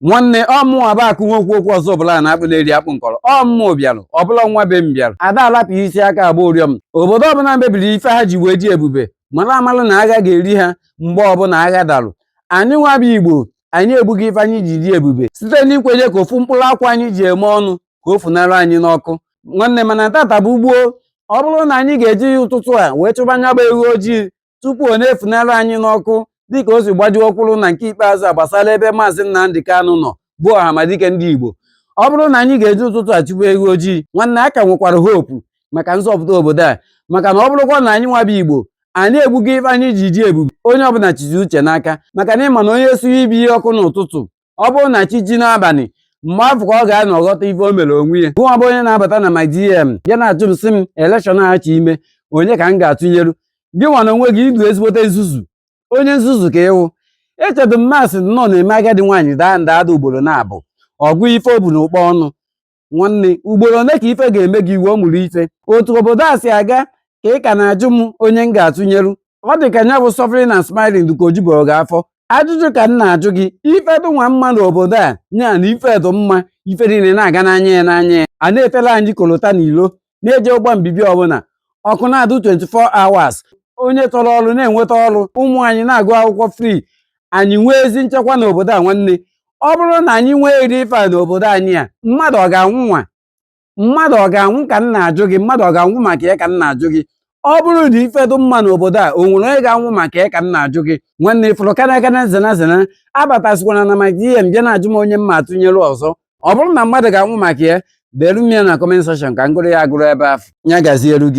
nwanne ọmụ aba akụ nwe okwu okwu ọzọ ọbụla na-akpụ na-eri akpụ nkọrọ ọmụ bịarụ ọbụla nwa be m bịarụ a da alapụ isi aka agba ụrịọm obodo ọbụla mebiri ife ha ji wee dị ebube mara amalụ na agha ga-eri ha mgbe ọbụla agha darụ anyị nwa bụ igbo anyị egbugo ife anyị ji dị ebube site n'ikwenye ka ofu mkpụrụ akwa anyị ji eme ọnụ ka o funara anyị n'ọkụ nwanne mana tata bụ gboo ọ bụrụ na anyị ga-eji ya ụtụtụ a wee chụba nya bụ ewu ojii tupu ọ na-efunara anyị n'ọkụ dịka o si gbajuo kwụrụ na nke ikpeazụ a gbasara ebe maazị Nnamdi Kanu nọ bụ ọhamadike ndị Igbo ọ bụrụ na anyị ga-eji ụtụtụ achụpụ ewu ojii nwanne a ka nwekwara hope maka nzọpụta obodo a maka na ọ bụrụkwa na anyị nwa bụ Igbo anyị egbugo ife anyị ji dị ebube onye ọbụla chizi uche n'aka maka na ịma na onye suye ibe ya ọkụ n'ụtụtụ ọ bụrụ na chi jie n'abalị mgbe afụ ka ọ ga-anọ ghọta ife o mere onwe ya gụnwa bụ onye na-abata na my DM bịa na-ajụ m sị m election a ha chọ ime onye ka m ga-atụnyeru gị nwa na onwe gị ị dụ ezigbote nzuzu onye nzuzu ka ị wụ echedo mmasị nnọọ na-eme agadi nwaanyị daa nda ada ugboro naabụ a gụọ ife o bu na ụkpa ọnụ nwanne ugboro ole ka ife ga-eme gị ị wee mụrụ ife otu obodo a si aga ka ị ka na-ajụ m onye m ga-atụnyeru ọ dị ka nya bụ suffering na smiling ka o jubero gị afọ ajụjụ ka m na-ajụ gị ife dị nwa mma n'obodo a nya na ife dị mma ife niile na-aga n'anya ya n'anya ya a na-efela anyị kolota na ilo na-eje ụgbọ mbibi ọbụla ọkụ na-adụ 24 hours onye chọrọ ọrụ na-enweta ọrụ ụmụ anyị na-agụ akwụkwọ free anyị nwee ezi nchekwa n'obodo a nwanne ọ bụrụ na anyị nwee eri ife a n'obodo anyị a mmadụ ọ ga-anwụ nwa mmadụ ọ ga-anwụ ka m na-ajụ gị mmadụ ọ ga-anwụ maka ya ka m na-ajụ gị ọ bụrụ na ife dụ mma n'obodo a o nwere onye ga-anwụ maka ya ka m na-ajụ gị nwanne ị fụrụ kana kana zena zena abatazikwana na my DM bịa na-ajụ m onye m ma-atụnyere ọzọ ọ bụrụ na mmadụ ga-anwụ maka ya delu m ya na comment section ka m gụrụ ya agụrụ ebe afụ ya gazielu gị